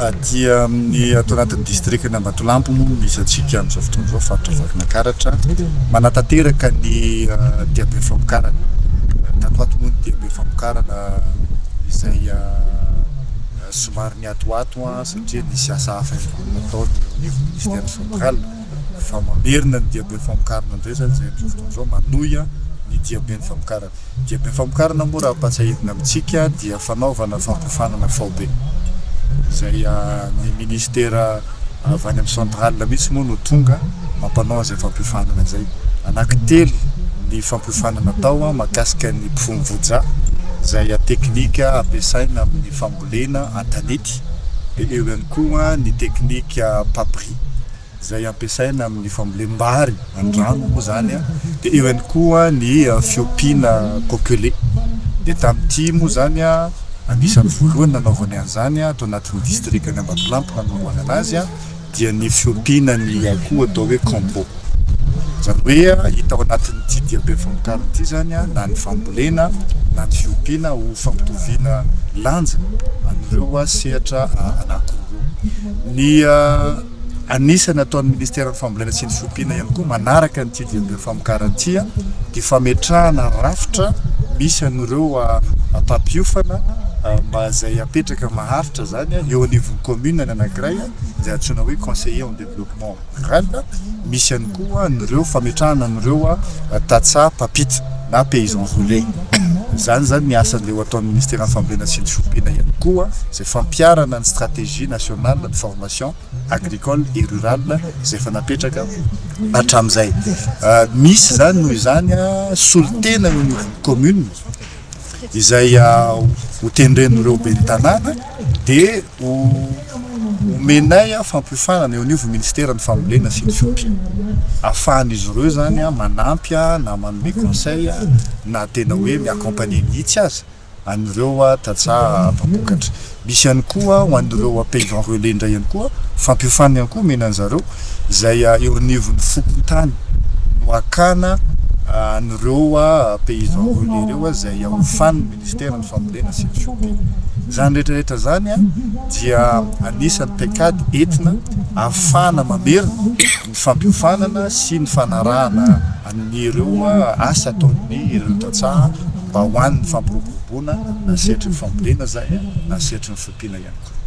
Aty amin'ny ato anatin'ny distrikan' Ambatolampy moa no misy antsika amin'izao fotoana izao, faritra Vakinankaratra. Manatanteraka ny diaben'ny famokarana. Tato ato moa ny diaben'ny famokarana izay somary niatoato satria nisy asa hafa ihany koa nataony eo anivon'ny Ministera Central fa mamerina ny diaben'ny famokarana indray izany izay amin'izao fotoana izao manohy ny diaben'ny famokarana. Diam-pifamokarana moa raha ampatsahivina amintsika dia fanaovana fampiofanana faobe izay ny ministera avy any amin'ny centrale mihitsy moa no tonga mampanao an'izay fampiofanana izay. Anankitelo ny fampiofanana atao mahakasika ny mpifono voja izay teknika ampiasaina amin'ny fambolena an-tanety dia eo ihany koa ny teknika papier. izay ampiasaina amin'ny fambolem-bary, an-drano moa izany, dia eo ihany koa ny fiompiana kokelé. Dia tamin'ity moa izany, anisan'ny voalohany nanaovany an'izany ato anatin'ny distrikan'i Ambatolampy nanombohana azy, dia ny fiompiana ny akoho atao hoe combo. Izany hoe hita ao anatin'ity diam-pihafamokarana ity izany na ny fambolena na ny fiompiana ho fampitoviana lanja an'ireo sehatra anankiroa ireo. Ny. Anisany ataon'ny Ministeran'ny Fambolena sy ny Fiompiana ihany koa manaraka ny TDMB Famokaran-tsia ny fametrahana rafitra misy an'ireo mpampiofana izay apetraka maharitra izany eo anivon'ny Commune ny anankiray izay antsoina hoe Conseiller en Développement Rural, misy ihany koa an'ireo fametrahana an'ireo tantsaha mpampita na Paysan Relais. Izany izany ny asa andeha ho ataon'ny Ministeran'ny Fambolena sy ny Fiompiana ihany koa izay fampiharana ny Stratégie Nationale de Formation. Commission agricole et rurale izay efa napetraka hatramin'izay. Misy izany noho izany solontena eo anivon'ny commune izay ho tendren'ireo ben'ny tanàna dia ho omenay fampiofanana eo anivon'ny ministeran'ny fambolena sy ny fiompiana ahafahan'izy ireo izany manampy na manome conseil na tena hoe mi-accompagner mihitsy aza. an'ireo tantsaha mpampokatra. Misy ihany koa ho an'ireo paysan relais indray ihany koa, fampiofanana ihany koa omena an-dry zareo, izay eo anivon'ny fokontany no hakana an'ireo paysan relais ireo izay hiofanin'ny ministeran'ny fambolena sy ny fiompiana. Izany rehetra rehetra izany dia anisan'ny paikady entina ahafahana mamerina ny fampiofanana sy ny fanarahana. amin'ireo asa ataon'ny ireo tantsaha mba ho an'ny fampiroboroboana na sehatry ny fambolena izany na sehatry ny fiompiana ihany koa.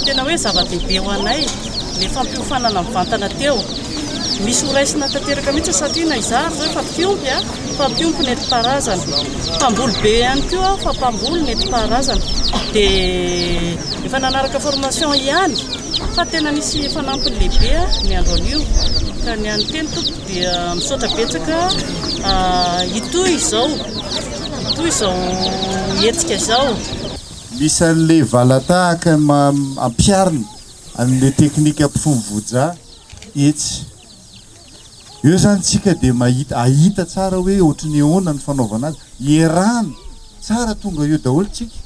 tena hoe zava-dehibe ho anay le fampiofanana mivantana teo misy horaisina tanteraka mihitsy satria na izaho ary zao fampiompy a fampiompy ny enti-paharazana mpamboly be ihany koa aho fa mpamboly ny enti-paharazana dia efa nanaraka formation ihany Fa tena nisy fanampiny lehibe ny andro anio ka ny an'ny teny tompoko dia misaotra betsaka hitohy izao hitohy izao hetsika izao. Misy an'ilay valatahaka ampiharina an'ilay teknika mpifono voja etsy. Eo izany isika dia mahita, ahita tsara hoe ohatry ny ahoana ny fanaovana azy. Ierahana, tsara tonga eo daholo isika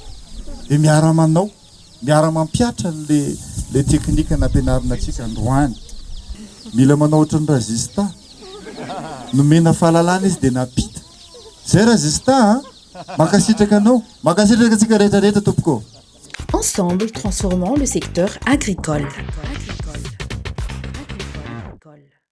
dia miara-manao. Miara mampihatra le le teknika nampianarina antsika androany. Mila manao ohatran'i Razista. Nomena fahalalana izy dia nampita. Zay Razista a! Mankasitraka anao. Mankasitraka antsika rehetra rehetra tompoko. Ensemble transformons le secteur agricole.